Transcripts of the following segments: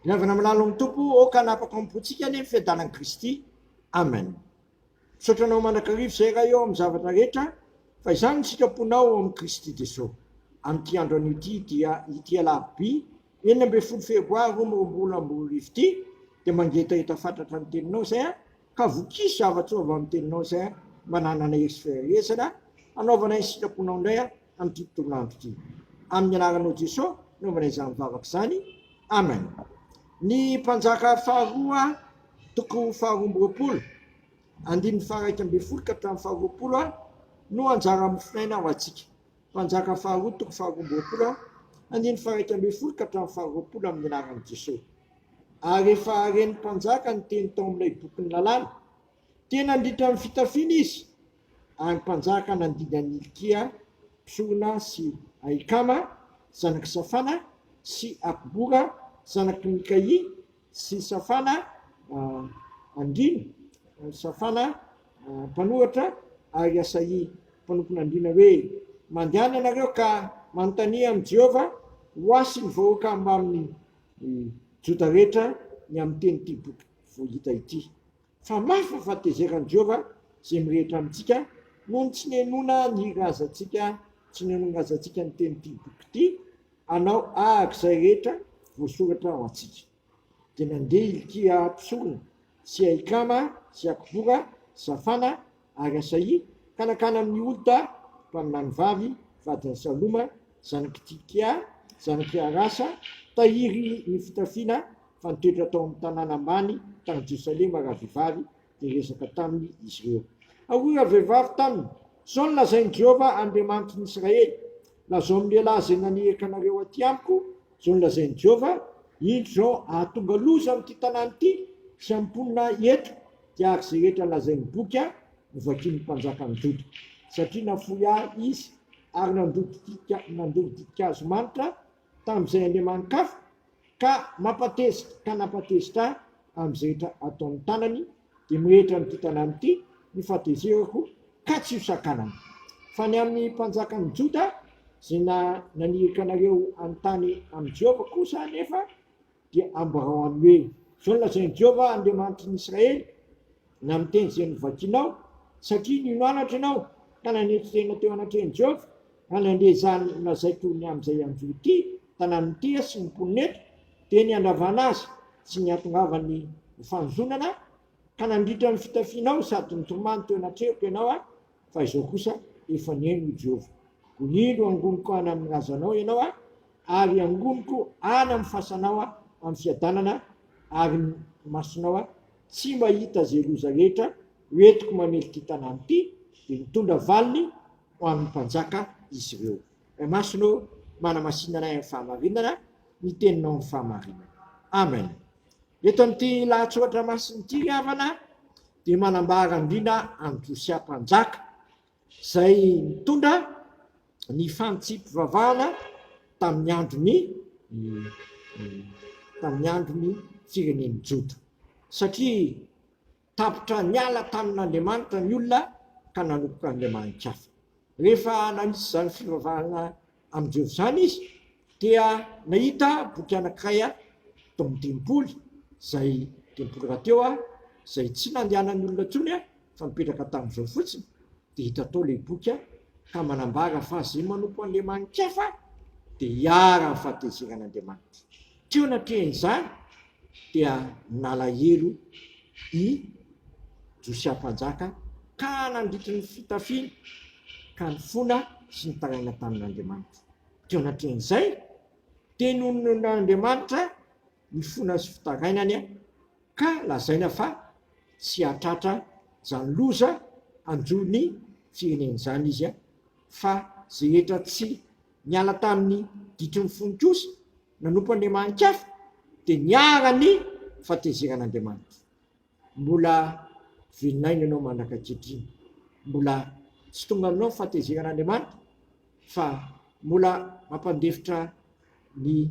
Miangona amin'ny lalan'ny Tompo ô ka hanapaka amin'ny pontsika anie ny fiadanan'i Kristy. Amen. Misaotra anao mandrakariva izay Ray ô amin'ny zavatra rehetra fa izany ny sitraponao ao amin'i Kristy Jeso. Amin'ity andro anio ity dia ity alarobia enina ambin'ny folo febroary roa amby roapolo amby roa arivo ity dia mangetaheta fatratra ny teninao izay aho Ka voky zava-tsoa avy amin'ny teninao izay aho mba nanana hery sy faherezana hanaovana ny sitraponao indray aho amin'ity tontolo andro ity. Amin'ny anaranao Jeso no manao izany vavaka izany. Amen. Ny Mpanjaka faharoa toko faharoa amby roapolo, andininy faha iraika ambin'ny folo ka hatramin'ny faha roapolo no anjara mofon' aina ho antsika. Mpanjaka faharoa toko faharoa amby roapolo aho, handiny faharaika ambin'ny folo ka hatramin'ny faharoapolo amin'ny anaran'i Jesoa. Ary efa haren'ny mpanjaka ny teny tao amin'ilay bokin'ny lalàna. Tena nandritra ny fitafiana izy, ary ny mpanjaka nandidy an'i Hilkia mpisorona sy Ahikama zanak'i Safana sy Akbora zanak'i Mikaia Tsy safana andriana, safana mpanohatra ary asahia mpanompon'andriana hoe, Mandehana ianareo ka manontania amin'i Jehovah ho ahy sy ny vahoaka mbamin'ny Joda rehetra ny amin'ny tenin'ity boky vao hita ity. fa mafy fa fahatezeran'i Jehovah izay mirehitra amintsika noho ny tsy nihenoana ny razantsika, tsy nihenoan'ny razantsika ny tenin'ity boky ity, hanao araka izay rehetra voasoratra ho antsika. Dia nandeha Hilkia mpisorona, sy Ahikama, sy Akbora, sy Safana, Ary Asaia, kanakana amin' ny Holta, mpaminany vavy, vadin' ny Saloma, zanak' i Tsikea, zanak' i Harasa, tahiry ny fitafiana, fa nitoetra tao amin' ny tanàna ambany tany Jerosalema ravehivavy, dia niresaka tamin' izy ireo. Hoy ravehivavy taminy, Izao no lazain' i Jehovah Andriamanitin' i Israely, Lazao amin' ny lehilahy izay naniraka anareo atỳ amiko, Izao no lazain' i Jehovah, Indro izao hahatonga loza amin' ity tanàna ity sy amin' ny mponina eto, Dia araka izay rehetra lazain'ny boky aho no vakin'ny mpanjaka nidodoka, satria nafoy ahy izy ary nandoro ditin-kazo manitra tamin'izay andriamani-kafa, ka mampatezitra ka nampatezitra ahy amin'izay rehetra ataon'ny tanany, dia mirehitra amin'ity tanàna ity ny fahatezerako ka tsy hosakanana. Fa ny amin'ny mpanjakan'ny Joda, izay naniraka anareo hanontany amin'i Jehovah kosa anefa, Dia ambarao aminy hoe, 'Izao no lazain'i Jehovah Andriamanitry ny Israely, Na miteny izay novakinao, satria nino anatra ianao, ka nanetry tena teo anatrehan'i Jehovah, ka nandre izany nolazaiko ny amin'izay hanjo ity tanàna ity sy ny mponina eto, dia ny handravana azy sy ny hahatongavany ho fanozonana, ka nandritra ny fitafianao sady nitomany teo anatrehako ianao. fa izao kosa efa nihaino i Jehovah. Koa indro angoniko ana amin'ny razanao ianao a, ary angoniko ana amin'ny fasanao a, amin'ny fiadanana ary ny masonao a, tsy mahita izay loza rehetra ho entiko mamelona ity tanàna ity, dia nitondra valiny ho amin'ny mpanjaka izy ireo. Ray Masina ô, manamasina anay amin'ny fahamarinana, ny teninao amin'ny fahamarinana. Amen. Eto amin'ity lahatsoratra masina ity ry havana dia manambara andriana an'i Josia mpanjaka izay nitondra ny fantsipivavahana tamin'ny androny tamin'ny androny firenen'ny Joda satria Tapitra niala tamin'Andriamanitra ny olona ka nanomboka niremahiny kiafa. Rehefa nanitsy izany fivavahana amin'i Jehovah izany izy, dia nahita boky anankiray tao amin'ny tempoly, izay tempoly rahateo, izay tsy nandehanan'ny olona intsony fa nipetraka tamin'izao fotsiny, Dia hita tao ilay boky an, ka manambara fa izay manompo an'ilay manin-kefa dia hiharan'ny fahatezeran'Andriamanitra. Teo anatrehan'izany dia nalahelo i Josia mpanjaka ka nandritry ny fitafiany ka nifona sy nitaraina tamin'Andriamanitra. Teo anatrehan'izay dia nononin'Andriamanitra. ny fona sy fitarainany ka lazaina fa tsy hahatratra izany loza hanjo ny firenena izany izy fa ze hetra tsy niala tamin'ny ditry ny fony kosa nanompo andriamani-kafa dia niharan'ny fahatezeran'Andriamanitra. Mbola velon'aina ianao mandraka ankehitriny, mbola tsy tonga aminao ny fahatezeran'Andriamanitra fa mbola mampandefitra ny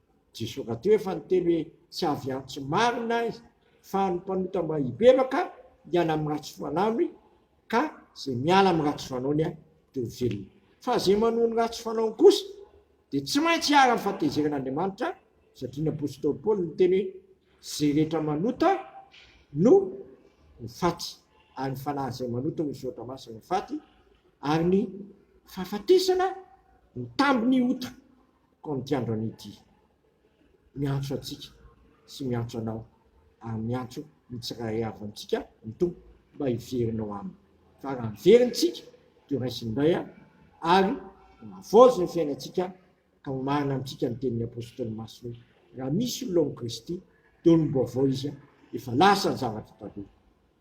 Jesoa ka teo efa niteny hoe tsy avy antso marina ahy fa ny mpanota mba hibebaka hiala amin'ny ratsy fanaony ka ze miala amin'ny ratsy fanaony a de ho velona fa ze manoa ny ratsy fanaony kosa de tsy maintsy hiara amin'ny fatezeran'Andriamanitra satria ny apostoly Paoly niteny hoe ze rehetra manota no ho faty ary ny fanahy zay manota ho soratra masina ho faty ary ny fahafatesana ho tambin'ny ota Koa amin'ity andro anio ity, miantso antsika sy miantso anao ary miantso ny tsirairay avy amintsika ny Tompo mba hiverina ao Aminy. Fa raha miverina isika dia horaisiny indray ary hohavaozy ny fiainantsika ka ho marina amintsika ny tenin'ny Apostoly Masina hoe, Raha misy olona ao amin'i Kristy, dia olom-baovao izy, efa lasa ny zavatra taloha,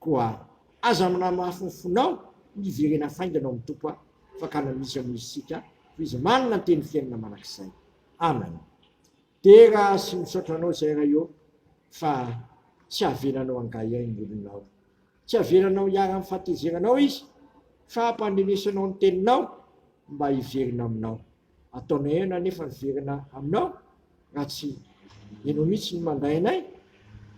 Koa aza manamafy ny fonao ny hiverena faingana ao amin'ny Tompo a! Fakana misy amin'ny isika toy izy manana ny teny fiainana manak'izay. Amen. Dera sy misaotra anao Zay Ray ô fa tsy avelanao hangaihay ny olonao. Tsy avelanao hiara amin'ny fahatezeranao izy fa hampandrenesanao ny teninao mba hiverina aminao. Ataonao eo ianao nefa miverina aminao raha tsy ianao mihitsy no mandray anay,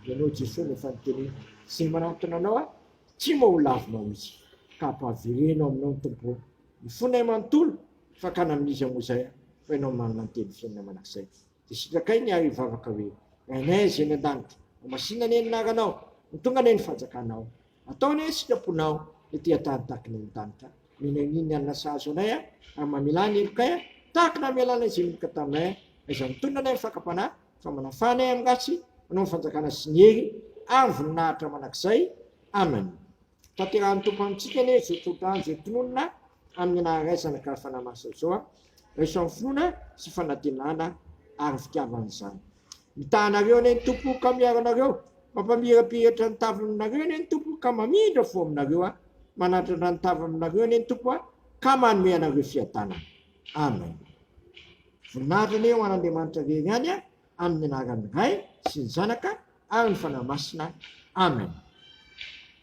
ianao Jesoa no efa niteneniko, izay manatona anao aho, tsy moa ho lavinao mihitsy, ka ampahavereno aminao ny Tompo ô, ny fonay manontolo, fakana amin'iza moa izay aho, fa ianao manana ny teny fiainana mandrakizay, dia sitrakay ny ahy hivavaka hoe, Rainay Azz eny an-danitra, homasina anie ny anaranao, ho tonga anie ny fanjakanao, Atao anie isika mponao ety an-tany takina ny danitra Mino an'iny alina sahazo anay a Ary mamelà ny helokay a Tahaka namelànay izay ninoka taminay a Aiza mitonona anay ny fakam-panahy Fa manafà anay amin'ny ratsy Anao ny fanjakana sy ny hery Ary ny voninahitra mandrakizay Amen Tanterahin'ny Tompo amintsika anie izao tsodrano izay tononina Amin'ny anaran'Ray Zanaka ary Fanahy Masina izao a Raiso amin'ny finoana sy fanantenana Ary ny fitiavana izany Mitaha anareo anie ny Tompo ka miaro anareo, mampamirapiratra ny taviny aminareo anie ny Tompo ka mamindra fo aminareo an, manandrandra ny taviny aminareo anie ny Tompo an, ka manome anareo fiadanana. Amen. Voninahitra anie ho an'Andriamanitra rery ihany an, amin'ny anaran'ny Ray sy ny Zanaka ary ny Fanahy Masina. Amen.